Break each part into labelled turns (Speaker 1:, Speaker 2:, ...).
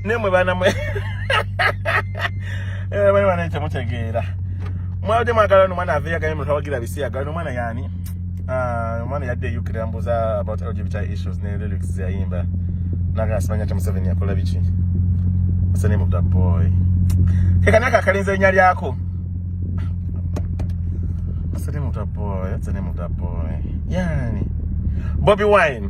Speaker 1: nemwe bana mwe eh, bana bana ekyo mutegeera mwabadde mwagala nomwana aveyo aganye muntu awagira bisiyagala nomwana yani ah, omwana yadde eyukira mbuza about lgbti issues ne lyrics zeyayimba naga asimanya kya museveni yakola biki asanimubda boy kekanaka akalinza erinya lyako asanimubda boy asanimubda boy yani bobi wine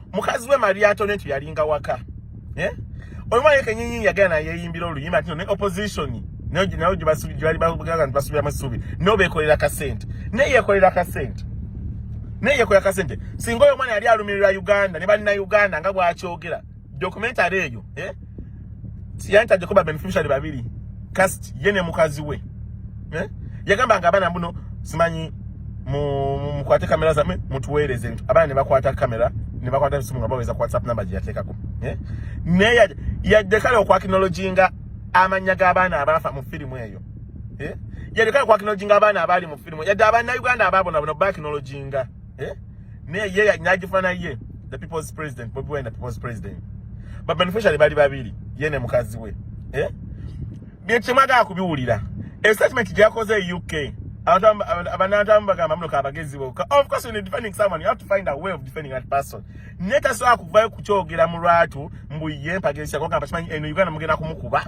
Speaker 1: mukazi we mariato netu yalinga waka eh? oyo mwana yekenyinyi yagala nayeyimbira oluyimba ati ne opposition nayo gyebali bagala nti basubiramu essuubi nayo bekolera kasente naye yekolera kasente naye yekolera kasente singa oyo omwana yali alumirira uganda ne banna uganda nga bwakyogera documentary eyo eh? siyantaje kuba beneficiary babiri cast ye ne mukazi we eh? yagamba nga abana mbuno simanyi mukwate mu, kamera zamwe mutuweereze nti abana ne bakwata kamera ne bakwata esimu nga baweza ku whatsapp namba gye yateekako eh? naye yadde kale okwakinologinga amannya g'abaana abaafa mu firimu eyo eh? yadde kale okwakinologinga abaana abaali mu firimu yadde abaana uganda abaabonabona bakinologinga eh? naye ye nagifana ye the people's president bobi wine the people's president ba beneficiary bali babiri ye ne mukazi we eh? byekyemwagaa kubiwulira estatement gyakoze e uk abanantamu bagamba muno kabagezi boka of course when defending someone you have to find a way of defending that person netasobola kuvayo kukyogera mu lwatu mbu ye mpageesako gamba kimanyi eno uganda mugenda kumukuba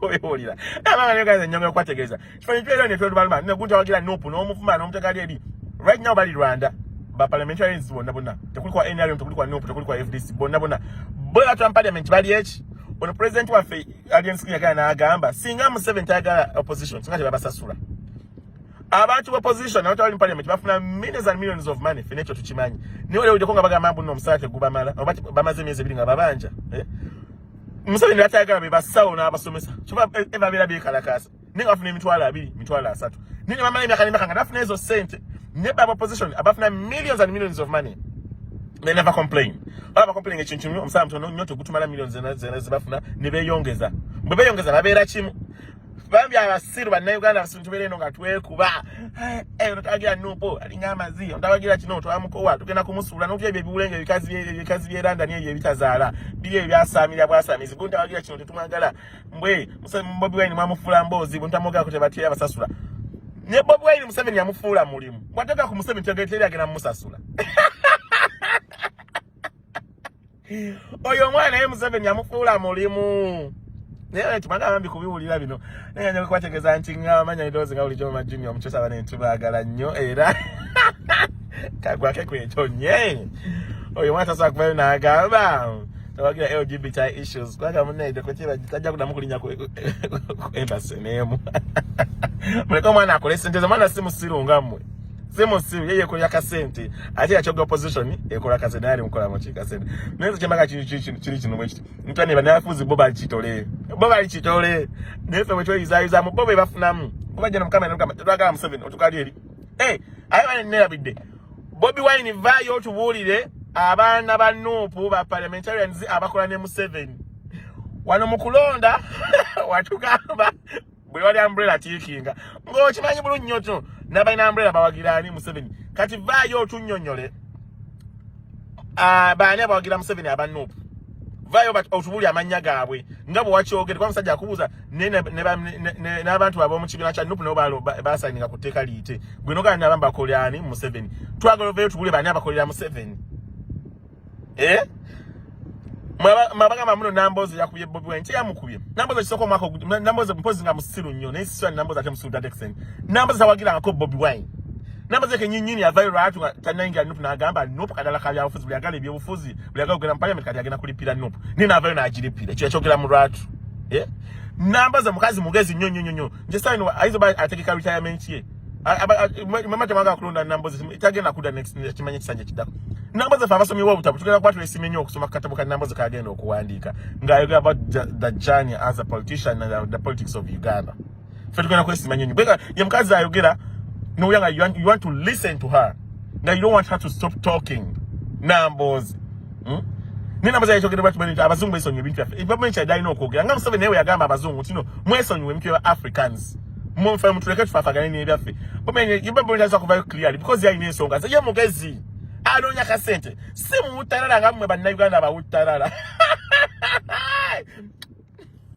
Speaker 1: oyewulira abaana negaza enyongera okwategeeza kifanyi kyera ne twelubaluma ne gunta wagira nupu n'omuvuma n'omutegali eri right now bali rwanda ba parliamentarians bonna bonna tekuli kwa nrm tekuli kwa nupu tekuli kwa fdc bonna bonna bo batwa mu parliament bali eki ono president waffe alien skin yagala n'agamba singa museven tayagala opposition singa tebabasasula abantu ba position abantu abali mu parliament bafuna millions and millions of money fine ekyo tukimanyi naye olewuddeko nga bagamba mbu no omusala tegubamala bamaze emyezi ebiri nga babanja eh? Museveni byatayagala be basawo n'abasomesa kyoba e, e, babeera beekalakaasa naye nga bafuna emitwalo abiri mitwalo asatu naye ne bamala emyaka n'emyaka nga bafuna ezo ssente ne baba opposition abafuna millions and millions of money they never complain baba complain ekintu kimu omusala mutono nnyo tegutumala millions zena zena zebafuna ne beeyongeza bwe beeyongeza babeera kimu bambi abasiru bannayuganda abasintu beera eno nga twekuba eh, ono tawagira nupo alinga amazi ono tawagira kino twamukowa tugenda kumusuula notya ebyo ebiwulenge ebikazi byerandani ebyo ebitazaala biri ebyo byasaamira bwasamizi gu ntawagira kino tetumwagala mbwe bobi wine mwamufuula mboozi bu ntamugaako tebatera basasula ne bobi wine museveni yamufuula mulimu bwateeka ku museveni tegeteeri agenda mumusasula oyo omwana naye museveni yamufuula mulimu naye tumana abambi kubiwulira bino naye nja kubategeeza nti ngamanya edoozi nga bulijjo mama junior omukyusa bane tubaagala nnyo era kagwake kwekyo nye oyo omwana tasobola kubayo n'agamba tawagira lgbti issues kubanga munaide kukiba tajja kudamu kulinya ku embassy neemu muleke omwana akole sente ze omwana si musiru nga mmwe simu simu yeye ekola kasente ate yakyoga opposition ekola kasente naye alimukola mu kikasente naye nze kyembaga kiri kino mwekiti mutwa ne banafuzi bo balikitole bo balikitole naye fe bwetweyizayuza mu bo bebafunamu kubajja na mukama namukama tetwagala museveni otukali eri e aye bane nerabidde bobi wine vayo otubuulire abaana ba nuupu ba parliamentarians abakola ne museveni wano mu kulonda watugamba buli wali umbrella tiikinga ng'okimanyi bulungi nnyo kino nabalina umbrella bawagira ani museveni kati vaayo otunyonyole ah, baani abawagira museveni abanup vaayo otubuli amannya gaabwe nga bwe wakyogere kuba musajja akubuuza n'abantu ab'omu kibiina kya nup nabo basayininga ku tteeka liyite gwe nogana nabambakolera ani museveni twagala ovayo otubuli baani abakolera museveni eh mwabagamba muno nambozi yakubye bobi wine teyamukubye nambozi ekisooka omwaka nambozi mpozi nga musiru nnyo naye siswa nambozi ate musiru dadeksen nambozi tawagirangako bobi wine nambozi eke nyinyini yavayo lwatu nga tanayingira nup nagamba nup kadala ka byabufuzi buli agala ebyobufuzi buli agala okugenda mu parliament kati agenda kulipira nup naye navayo nagiripira ekyo yakyogera mu lwatu eh? nambozi mukazi mugezi nnyo nnyo nnyo nze sign wa aizo ba ategeka retirement ye mama temaga kulonda nambo ze tagenda kuda next kimanye kisanje kidako nambo ze fava somi wabuta butugenda kwatu esimenye okusoma katabo ka nambo ze kagenda okuwandika ngayo about the journey as a politician and uh, the politics of Uganda fe tugenda kwesimanye nyo bega ye mkazi ayogera no yanga you want, you want to listen to her now you don't want her to stop talking nambo ze hmm? naye namaze yakyogedde bakimanyi nti abazungu besonyiwa ebintu byaffe gavumenti kyadde alina okwogera nga museveni naye weyagamba abazungu tino mwesonyiwa ebintu bya africans mumufana mutuleke tufaafagane nebyaffe gavumenti aza kuvayo clearly because yalina ensonga ze ye mugezi anoonya kasente si muwuttarara nga mmwe bannayuganda bawuttarara